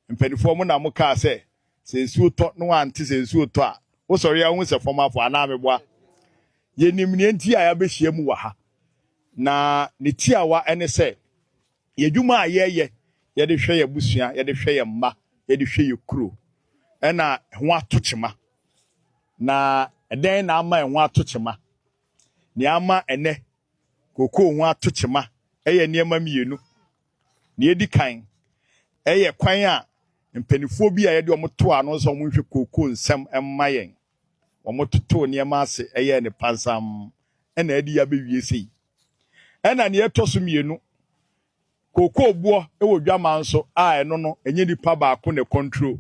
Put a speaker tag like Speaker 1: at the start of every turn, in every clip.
Speaker 1: Mpanimfoɔ mo na mo kaa sɛ sɛ nsuo tɔ na wante sɛ nsuo tɔ a wo sɔre a wohu sɛ fam afɔ anaa meboa? Yɛnim neɛ nti a yɛabɛhyia mu wɔ ha na ne tiawa ne sɛ yɛdwuma a yɛyɛ yɛde hwɛ yɛ abusua, yɛde hwɛ yɛ mma, yɛde hwɛ yɛ kuro ɛna ho ato kyema na ɛdɛn na ama ɛho ato kyema? Neɛ ama ɛnɛ kokoo ho ato kyema ɛyɛ nneɛma mmienu. Nea edi kan, ɛyɛ kwan a mpanimfoɔ bi a yɛde wɔn too ano sɛ wɔnhwɛ kookoo nsɛm mma yɛn. Wɔtotoo nneɛma ase yɛɛ no pansam na adi abɛwie sei. Ɛnna nea ɛtɔ so mmienu, kookoo boɔ wɔ dwaman nso a ɛno no, ɛnyɛ nipa baako na ɛkɔntro.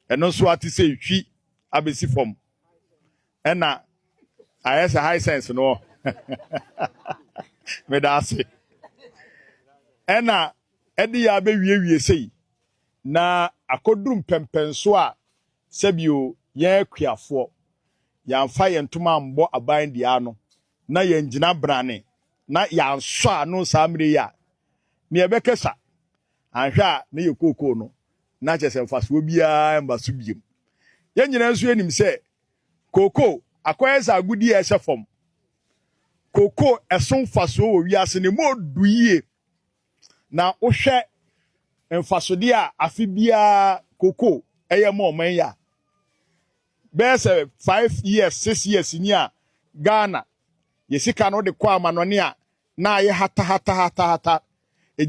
Speaker 1: Ɛno nso ate sɛ ɛtwi abɛsi fam. ɛna ayɛ sɛ high sense no ɔ meda ase ɛna ɛde yɛ abɛwiewie sei na akɔduru mpɛmpɛnso a sɛbio yɛn akuafoɔ yɛamfa yɛn ntoma ambɔ aban deɛ ano na yɛngyina brane na yɛansɔ ano saa mmerɛ yi a ne yɛbɛkɛ sa anhwɛ a ne yɛ kookoo no na kyɛ sɛ mfasoɔ biara mba so biom yɛn nyinaa nso yɛnim sɛ Kookoo, akɔyɛ sɛ agodi a ɛhyɛ fam. Kookoo ɛso mfasoɔ wɔ wiase no mu ɔdu yie. Na wohwɛ mfasodeɛ a afe biara kookoo ɛyɛ ma ɔman yi a, bɛyɛ sɛ five years, six years ni a Ghana yɛ sika no wode kɔ amanɔne a na ayɛ hatahatahatahata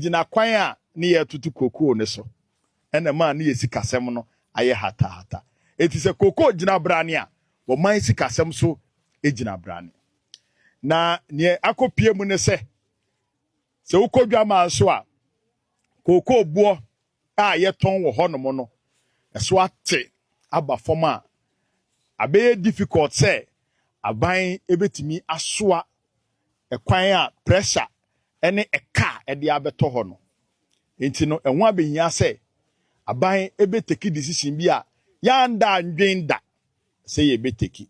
Speaker 1: gyina kwan a ne yɛ retoto kookoo no so, ɛna ɛmaa ne yɛ sikasɛm no ayɛ hatahata. Enti sɛ kookoo gyina brane a, ɔman sikasɛm so gyina brane. Na nea akɔpue mu ne sɛ, sɛ wokɔ dwaman so a, kookoo boɔ a yɛtɔn wɔ hɔnom no so ate aba fam a, abɛyɛ difficult sɛ aban betumi asoa kwan a pressure ne ka a ɛde abɛtɔ hɔ no. Enti no, ɛho abehia sɛ aban betake decision bi a yɛannda annwen da sɛ yebetake.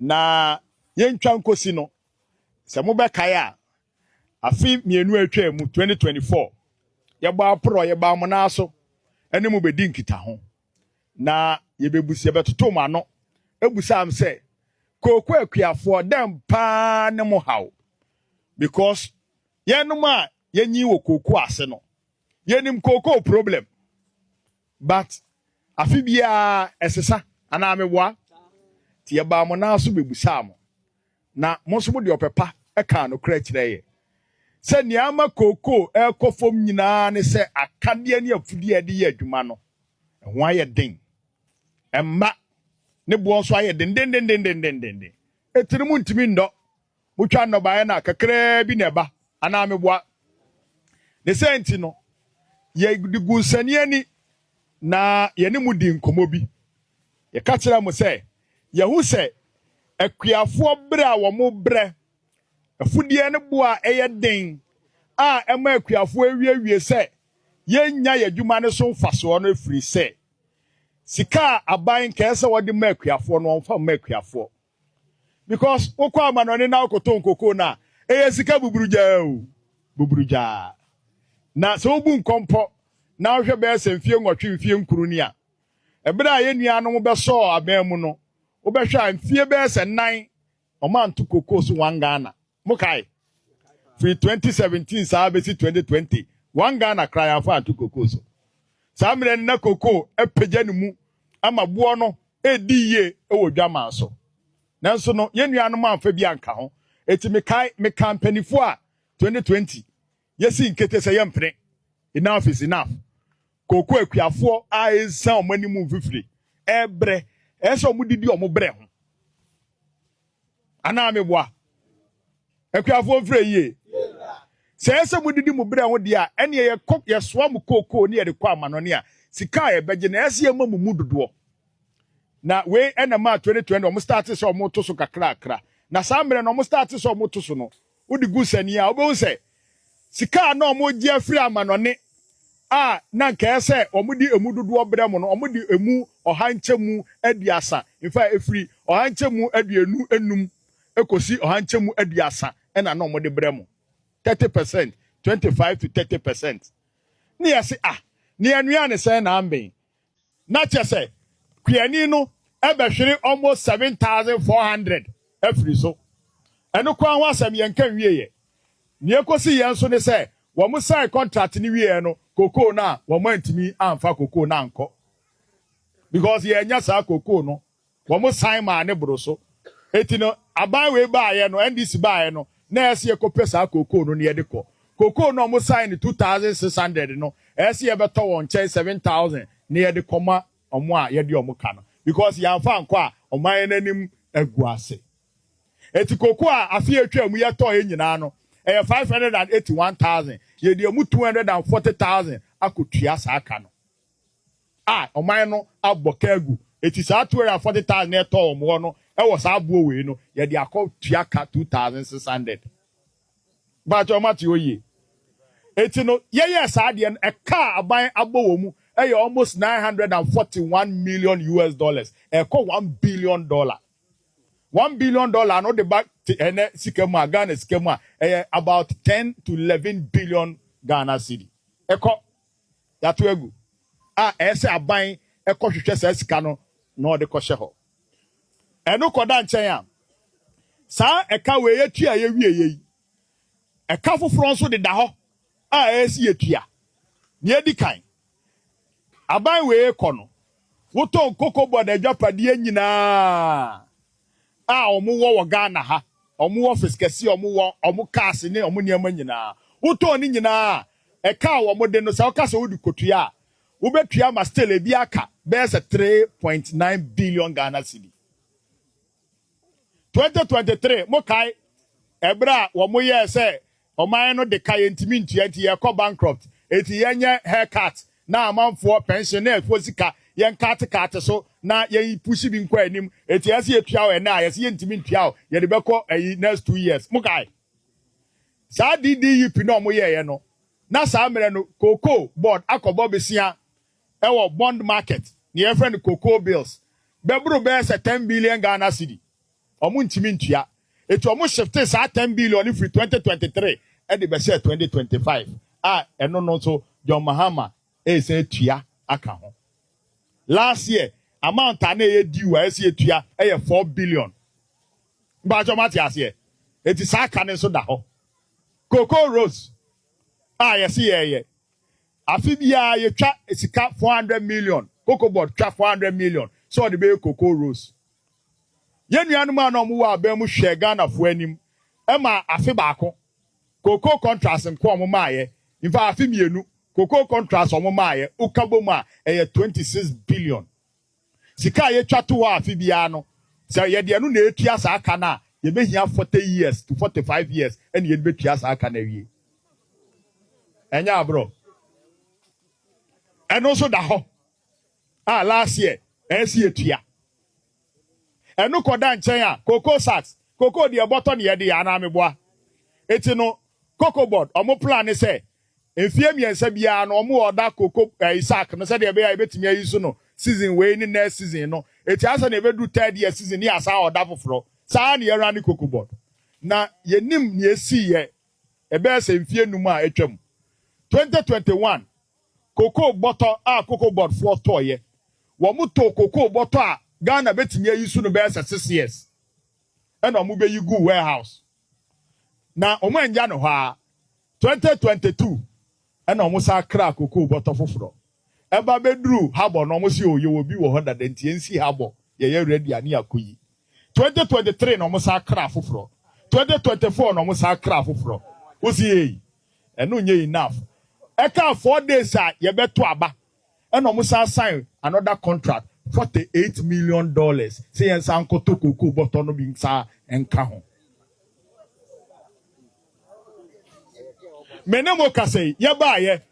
Speaker 1: Na yentwa nkosi no, sɛ mobɛkae a, Afe mmienu a atwaa mu, 2024, yɛbɔ aporɔ, yɛbaa mo nan so ne mo bɛdi nkitaho. Na yɛbɛbus, yɛbɛtoto mo ano busaa m sɛ, Kooko akuafoɔ, dɛn paa ne mo haw? Because yɛnom a yɛnyin wɔ kooko ase no, yɛnim kooko problem. But afe biara ɛsesa, anaa meboa? Nti yɛbaa mo nan so bɛbusaa mo, Na mo nso mode ɔpɛ pa kaa nokorɛ kyerɛɛ yɛn. Sɛ nea ama kookoo rekɔ fam nyinaa ne sɛ akadeɛ ne afudeɛ a yɛde yɛ adwuma no, ɛho ayɛ den. Mma, ne boɔ nso ayɛ dendendendendendenden. Etire mu ntumi nnɔ. Motwa nnɔbaeɛ no a, kakraa bi na ɛba, anaa meboa? Ne saa nti no, yɛde gu nsania ni, na yɛne mo dii nkɔmmɔ bi. Yɛka kyerɛɛ mo sɛ, Yɛahu sɛ akuafoɔ berɛ a wɔbrɛ afudeɛ ne boɔ a ɛyɛ den a ɛma akuafoɔ awiewie sɛ yɛnnya yɛn adwuma no so mfasoɔ no ɛfiri sɛ sika a aban nkɛɛ sɛ wɔde ma akuafoɔ no wɔmfa mma akuafoɔ because wokɔ amanɔne na wokoto nkoko no a ɛyɛ sika buburugyaa o buburugyaa na sɛ wobu nkɔmpɔ na wohwɛ bɛyɛ sɛ mfie nwɔtwe mfie nkuru ni a Bere a yɛn nuanom bɛsɔɔ aban mu no, wobɛhwɛ a mfie bɛyɛ sɛ nnan wɔanto cocoa so one Ghana. Mokae? Firi 2017 saa bɛsi 2020, one Ghana koraa yɛamfa anto cocoa so. Saa mmerɛ no na cocoa apagya ne mu ama boɔ no redi yie wɔ dwaman so. Nanso no, yɛn nuanom amfa bi anka ho. Enti mekae, mekaa mpanimfoɔ a 2020 Yɛsi nkete sɛ yɛmpene. Enough is enough. Kooko akuafoɔ a ɛnsa wɔn anim mfifire ɛbrɛ ɛyɛ sɛ wɔn didi wɔn brɛ ho. Anaa meboa? Akuafoɔ mfirɛ yie. Sɛ ɛyɛ sɛ mo didi mo brɛ ho deɛ a ɛneɛ yɛkɔ yɛsoa mo kookoo ne yɛde kɔ amanɔne a sika a yɛbɛgye na ɛyɛ sɛ yɛma mo mu dodoɔ. Na wei ɛna maa 2020 wɔn start sɛ wɔn to so kakrakra. Na saa mmerɛ no wɔn start sɛ wɔn to so no Wode gu sani a, wubehu sɛ sika a na wɔregye afiri amannɔne a na anka ɛyɛ sɛ wɔde emu dodoɔ brɛ mo no, wɔde emu ɔha nkyɛmu aduasa mfa ɛfiri ɔha nkyɛmu aduonu nnum kɔsi ɔha nkyɛmu aduasa na na wɔde brɛ mo. 30 percent, 25 to 30 percent. Ne yɛse ah, nea ɛnoa ne sɛn na amben? na kyerɛ sɛ kuani no bɛhwere almost 7,400 afiri so. Ɛno ko ara ho asɛm yɛnka nwieɛ. Nea ɛkɔsiiɛ nso ne sɛ wɔn sign contract no wieɛ no, cocoa no a wɔn antumi amfa cocoa no ankɔ because yɛannya saa cocoa no Wɔsan maa ne boro so. Enti no, aban wei baeɛ no, NDC baeɛ no, na ɛyɛ sɛ yɛkɔpɛ saa cocoa no na yɛde kɔ. Cocoa no a wɔsae no 2,600 no, ɛyɛ sɛ yɛbɛtɔ wɔn nkyɛn 7,000 na yɛde kɔma wɔn a yɛde wɔn ka no because yɛamfa ankɔ a, wɔma yɛn anim agu ase. Enti cocoa a afe a atwaa mu yɛtɔeɛ nyinaa no, ɛyɛ 581,000. Yɛde emu 240,000 akɔtua saa ka no. a ɔman no abɔ ka agu. Enti saa two hundred and forty thousand a ɛtɔɔ wɔn hɔ no wɔ saa aboɔ wei no, yɛde akɔtua ka two thousand six hundred. Mpakyɛw moate hɔ yie? Enti no, yɛyɛɛ saa adeɛ no, ɛka a aban abɔ wɔ mu yɛ almost nine hundred and forty one million US dollars, ɛrekɔ one billion dollar. One billion dollar no de ba te ɛnɛ sika mu a, Ghana sika mu a, ɛyɛ about ten to eleven billion Ghana cedi. Ɛkɔ yɛato agu a ɛyɛ sɛ aban kɔhwehwɛ saa sika no na ɔde kɔhyɛ hɔ. Ɛno kɔda nkyɛn a, saa ɛka wei yɛtua a yɛwieɛ yi, ɛka foforɔ nso deda hɔ a ɛyɛ sɛ yɛtua. Deɛ ɛdi kan, aban wei kɔ no, wotɔn kokobɔ na agyapadeɛ nyinaa a wɔwɔ wɔ Ghana ha, wɔn office kɛse a wɔwɔ, wɔn cars ne wɔn nneɛma nyinaa. Wotɔɔ ne nyinaa a, ɛka a wɔn de no sɛ woka sɛ wode kotua a, wobɛtua ma still ebi aka bɛyɛ sɛ 3.9 billion Ghana cedi. 2023 mokae ɛberɛ a wɔyɛɛ sɛ Ɔman no de ka yɛntumi ntua nti yɛkɔ bankrupt. Enti yɛnyɛ hair cut na amanfoɔ pension ne ɛfoɔ sika yɛn cut cut so na yɛn push bi nkɔ anim. Enti ɛyɛ sɛ yɛtua wo ɛnnɛ a yɛse yɛntumi ntua wo yɛde bɛkɔ ayi next two years. Mokae saa DDUP na ɔmo yɛɛyɛ no? Na saa mmerɛ no cocoa board akɔbɔ besia ɛwɔ bond market, neɛ yɛfrɛ no cocoa bills, bɛboro bɛyɛ sɛ ten billion Ghana cedi. Wɔntumi ntua. Enti wɔshiftee saa ten billion no firi twenty twenty three de bɛhyɛɛ twenty twenty five a ɛno no nso John Mahama resan atua aka ho. Last year amount a na ɛyɛ due a ɛsɛ sɛ yɛtua yɛ four billion. Mpakyɛw moate aseɛ? Enti saa ka no nso da hɔ. Cocoa Rose a yɛse yɛreyɛ, afe biara yɛtwa sika four hundred million, Cocoa Board twa four hundred million sɛ wɔde bɛyɛ Cocoa Rose. Yɛn nuanom a na wɔwɔ aban mu hwɛɛ Ghanafoɔ anim maa afe baako. Cocoa Contras nko a wɔmaaeɛ, in fact afe mmienu, Cocoa Contras a wɔmaaeɛ, woka bom a, ɛyɛ twenty six billion. Sika a yɛtwa to hɔ afe biara no, sɛ yɛde ɛno na ɛretua saa ka no a, yɛbɛhia forty years to forty five years na yɛde bɛtua saa ka no awie. Ɛnyɛ aborɔ. Ɛno nso da hɔ. a last year ɛsi etua. Ɛno kɔda nkyɛn a cocoa sacks, cocoa deɛ bɔtɔ ne yɛde yɛ anaa meboa. Eti no cocoa board ɔmo plan ne sɛ mfie mmiɛnsa biara no ɔmo ɔda cocoa ɛyi sack no sɛdeɛ ɛbɛyɛ a yɛbɛtumi ayi so no season wei ne next season no. Eti ayɛ sɛ nea ɛbɛduru third year season ne yɛasan ɔda foforɔ. Saa ne yɛ runne cocoa board. Na yɛnim nea esiiɛ ɛbɛyɛ sɛ mfie num a atwam. Twenty twenty one Kokoo bɔtɔ a Cocoa Board foɔ tɔɔeɛ. Wɔtoo kokoo bɔtɔ a Ghana bɛtumi ayi so no bɛyɛ sɛ six years ɛna wɔbɛyi guu warehouse. Na wɔannya no hɔ ara, twenty twenty two ɛna wɔsan kraa kokoo bɔtɔ foforɔ. Ɛba bɛduru Harbour no wɔse oo yɛwɔ bi wɔ hɔ dada nti yɛnsi Harbour, yɛyɛ ready a ne yɛakɔyi. Twenty twenty three na wɔsan kraa foforɔ, twenty twenty four na wɔsan kraa foforɔ. Wo se ei! Ɛno nyɛ enough. Ɛkaa four days a yɛbɛto aba ɛna ɔmo san sign another contract forty eight million dollars sɛ yɛn san nkɔtɔ cocoa bɔtɔ no bi nsa nka ho. Me ne mo kasa yi yɛbaayɛ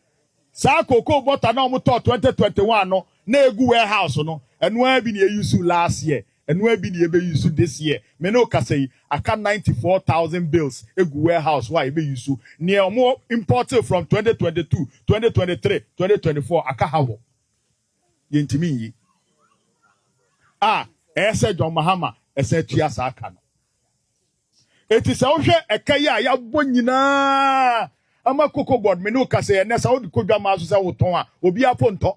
Speaker 1: saa cocoa bɔtɔ a na ɔmo tɔɔ twenty twenty one no na egu warehouse no ɛno ara bi na yɛ use last year Ɛnoaa bi na yɛbɛ use this year, me ne wo kasa yi aka ninety four thousand bales egu warehouse hɔ a yɛbɛ use, neɛ ɔmo importee from twenty twenty two, twenty twenty three, twenty twenty four aka ha hɔ, yɛntumi nyi a ɛyɛsɛ John Mahama ɛsan tua saa ka no. Eti sɛ wohwɛ ɛka yi a yɛabɔ nyinaa ama cocoa board, me ne wo kasa yi ɛnɛ sɛ wode kɔ dwamaa so sɛ wotɔn a obiara po ntɔ.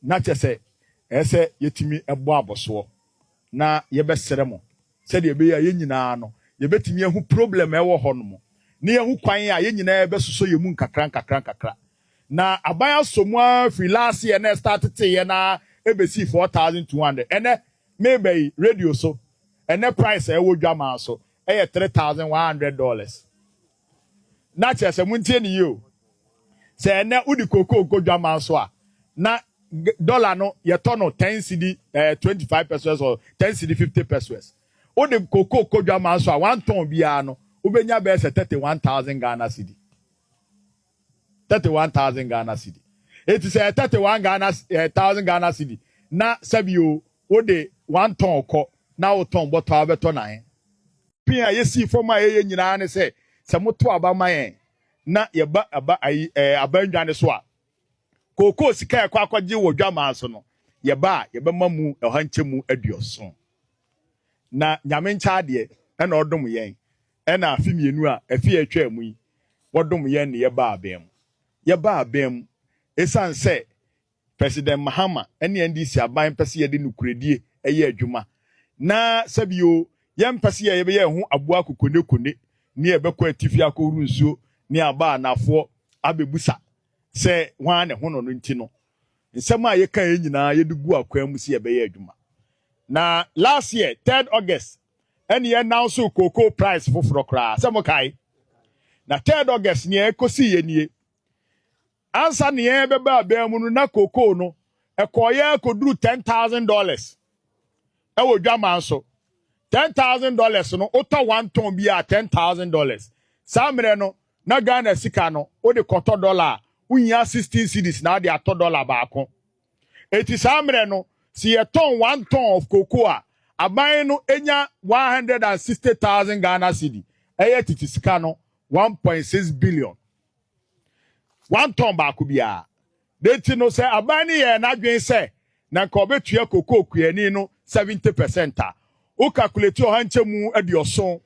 Speaker 1: Na kyerɛ sɛ, ɛyɛ sɛ yɛtumi bɔ abɔsoɔ na yɛbɛsrɛ mo sɛdeɛ ɛbɛyɛ a yɛn nyinaa no, yɛbɛtumi ahu problem a ɛwɔ hɔ nom, na yɛahu kwan a yɛn nyinaa yɛbɛsosɔ yɛn mu nkakra nkakra nkakra. Na aban asɔ mu ara firi last year na ɛstarteteeɛ no ara ɛbɛsii 4200. Ɛnnɛ, mereba yi, radio so, ɛnnɛ price a ɛwɔ Dwamaa so yɛ 3100 dollars. na kyerɛ sɛ montie ne yie o sɛ ɛnɛ wode kokoo nkɔ dwaman so a na dɔla no yɛtɔ no ten cedi ɛɛ eh, twenty five pesos or ten cedi fifty pesos wode kokoo kɔ dwaman so a wantɔn biara no wobɛnya bɛyɛ sɛ thirty one thousand ghana cedi Thirty one thousand Ghana cedi. Eti sɛ ɛyɛ thirty one Ghana eh, thousand Ghana cedi na sɛbi o wode one tɔn kɔ na wotɔn bɔtɔ a wobɛtɔ na he? Pin a yɛsii fam a yɛyɛ nyinaa ne sɛ sɛ moto aba ma yɛn na yɛba aba ayi ɛɛ eh, aba nnwa ne so a kookoo sika a ɛkɔ akɔgye wɔ dwamaa so no yɛba a yɛbɛma mu ɔha nkyɛmu aduɔson na nyame nkyɛ adeɛ ɛna ɔdom yɛn Ɛna afe mmienu a afei atwaa mu yi, wɔdom yɛn na yɛbaa bɛn mu. Yɛbaa bɛn mu esiane sɛ President Mahama ne NDC aban mpɛ sɛ yɛde nokorɛdie yɛ adwuma, na sɛbi o, yɛmpɛ sɛ yɛ yɛbɛyɛ yɛn ho aboa kokonekone ne yɛ bɛkɔ atifi akɔhoro nsuo ne aba anafoɔ abɛbusa sɛ hwan na ɛho nɔ no nti no, nsɛm a yɛkaeɛ nyinaa yɛde guu akwan mu sɛ yɛbɛyɛ adwuma. Na last year, third August, ɛne announce cocoa price foforɔ koraa sɛ mokae na third August nea ɛkɔsii yɛ nie ansa ne yɛn bɛba abɛn mu no na cocoa no ɛkɔɔyɛ akɔduru ten thousand dollars ɛwɔ dwaman so ten thousand dollars no wotɔ one ton bi a ten thousand dollars saa mmerɛ no na Ghana sika no wode kɔtɔ dollar a wohia sixteen cedis na wode atɔ dollar baako. Enti saa mmerɛ no, sɛ yɛtɔn one ton of cocoa a, aban no nya one hundred and sixty thousand Ghana cedi, ɛyɛ tete sika no one point six billion. One ton baako biara. Ne nti no, sɛ aban no yɛɛ n'adwene sɛ na nka ɔbɛtua cocoa kuani no seventy percent a, wokakuleti ɔha nkyɛmu aduɔson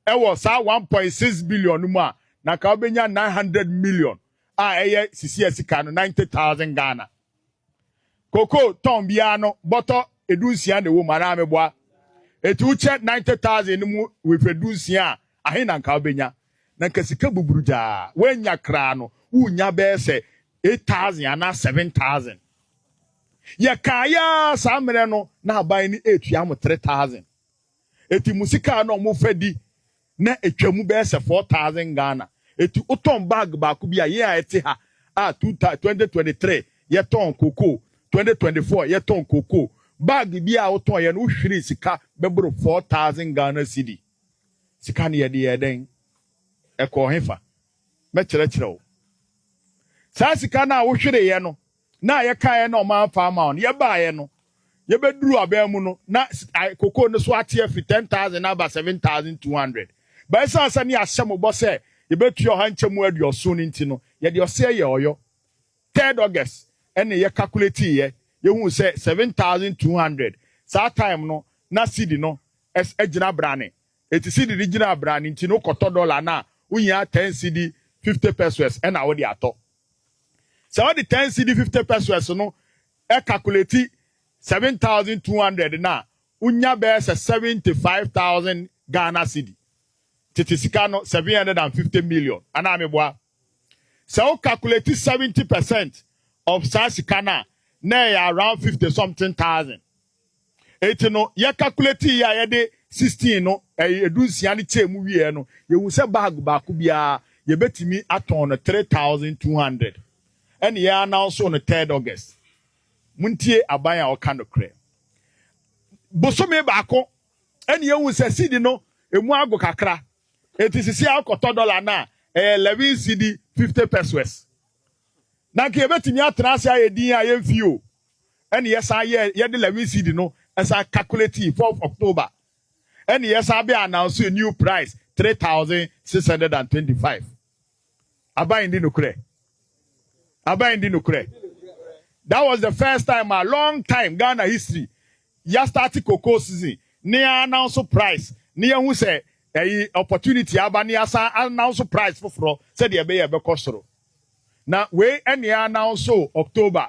Speaker 1: wɔ saa one point six billion no mu a, na nka wobɛnya nine hundred million a ɛyɛ sisia sika no ninety thousand Ghana. Koko tɔn biara no bɔtɔ edu nsia na ɛwɔ mu anaa meboa. Eti wokyɛ ninety thousand no mu wehwɛ du nsia a ahe na nka wobɛnya? Na nka sika buburu gyaa woanya koraa no wonya bɛyɛ sɛ eight thousand anaa seven thousand. Yɛkaeɛ ara saa mmerɛ no na aban no ɛretua mo three thousand. Eti mo sika a na wɔfa di na etwa mu bɛyɛ sɛ four thousand Ghana. Eti wotɔn bag baako bi a, yɛn a yɛte ha a two thousand, twenty twenty three yɛtɔn cocoa, twenty twenty four yɛtɔn cocoa, bag biara a wotɔn yɛ no wohwere sika bɛboro four thousand Ghana cedi. Sika no yɛde yɛɛ dɛn? Ɛkɔɔ hefa? Mɛkyerɛkyerɛ wo. Saa sika no a wohwereyɛ no, na a yɛkaeɛ na ɔman fa ama wɔn. Yɛbaeɛ no, yɛbɛduruu aban mu no, na kokoo no so ate afiri 10,000 aba 7,200. But ɛsiane sɛ ne yɛahyɛ mo bɔ sɛ yɛbɛtua ɔha nkyɛmu aduɔson no nti no, yɛde ɔseɛ yɛɛ ɔyɔ. Third August ne yɛ calculatiiɛ, yɛhuu sɛ 7,200, saa time no na cedi no agyina brane. Enti cedi no gyinaa brane nti no, wokɔtɔ dollar no a, wohia 10 cedi 50 pesewas na wode atɔ. Sɛ wode ten cedi fifty pesoes no kakuleti seven thousand two hundred no a, wunya bɛyɛ sɛ seventy five thousand Ghana cedi. Tete sika no, seven hundred and fifty million, anaa meboa? Sɛ wo kakuleti seventy percent of saa sika no a, na ɛyɛ around fifty something thousand. Enti no, yɛ calculate yɛ a yɛde 16 no, ɛyɛ edu nsia no kyɛɛ mu wieɛ no, yɛhu sɛ bag baako biara yɛbɛtumi atɔn no 3,200. Ɛne yɛ announce no third August. Montie aban a ɔka nokorɛ. Bosome baako, ɛne yɛhu sɛ cedi no emu ago kakra. Enti sisi a wokɔtɔ dollar no a, ɛyɛ 11 cedi 50 pesos. Na nka yɛbɛtumi atena ase ayɛ din a yɛmfii o. ɛna yɛsan yɛɛ yɛde levy seed no ɛsan calculating fourth October ɛna yɛsan bɛ announce a new price three thousand six hundred and twenty five aban ndi nokorɛ aban ndi nokorɛ that was the first time a long time Ghana history ya start cocoa season ne ya announce price ne ya hu sɛ ɛyi opportunity aba ne yɛasan announce price foforɔ sɛdeɛ ɛbɛyɛ ɛbɛkɔ soro na wei ɛna yɛ announce October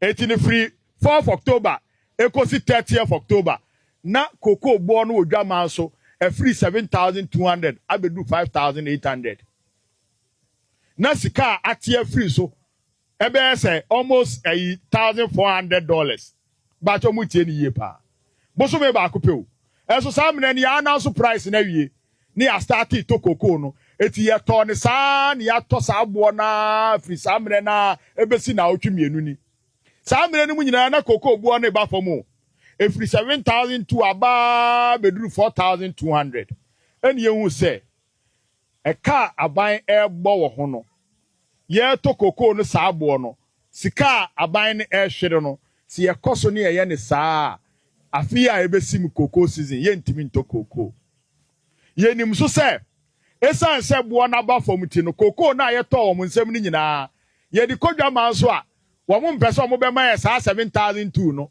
Speaker 1: Enti no firi fourth October ɛkɔsi thirtieth October na cocoa boɔ no wɔ dwaman so afiri seven thousand two hundred abɛduru five thousand eight hundred na sika a ate afiri so ɛbɛyɛ sɛ almost ɛyi thousand four hundred dollars baakyɛ ɔmo tie ne yie paa bosome baako pɛ o ɛso saa mena ni yɛ ananso price no awie ne yɛ astartee tɔ kookoo no. Enti yɛ tɔɔ no saa ara na yɛ atɔ saa boɔ no ara firi saa mmerɛ no ara ɛbɛsi naawɔtwe mmienu ni. Saa mmerɛ no mu nyinaa na kookoo boɔ no reba fam o. Ɛfiri 7,002 aba ara bɛduru 4,200 ɛna yɛhuu sɛ ɛka a aban rebɔ wɔ ho no yɛretɔ kokoo no saa boɔ no, sika a aban no rehwere no, sɛ yɛkɔ so ne yɛyɛ no saa a, afe yi a ɛbɛsim kokoo season, yɛntumi ntɔ kokoo. Yɛnim nso sɛ, ɛsiane sɛ boɔ no aba fam nti no, kokoo no a yɛtɔɔ wɔn nsam no nyinaa, yɛde kɔ dwaman so a, wɔmpɛ sɛ wɔbɛma yɛn saa 7,000 tuu no,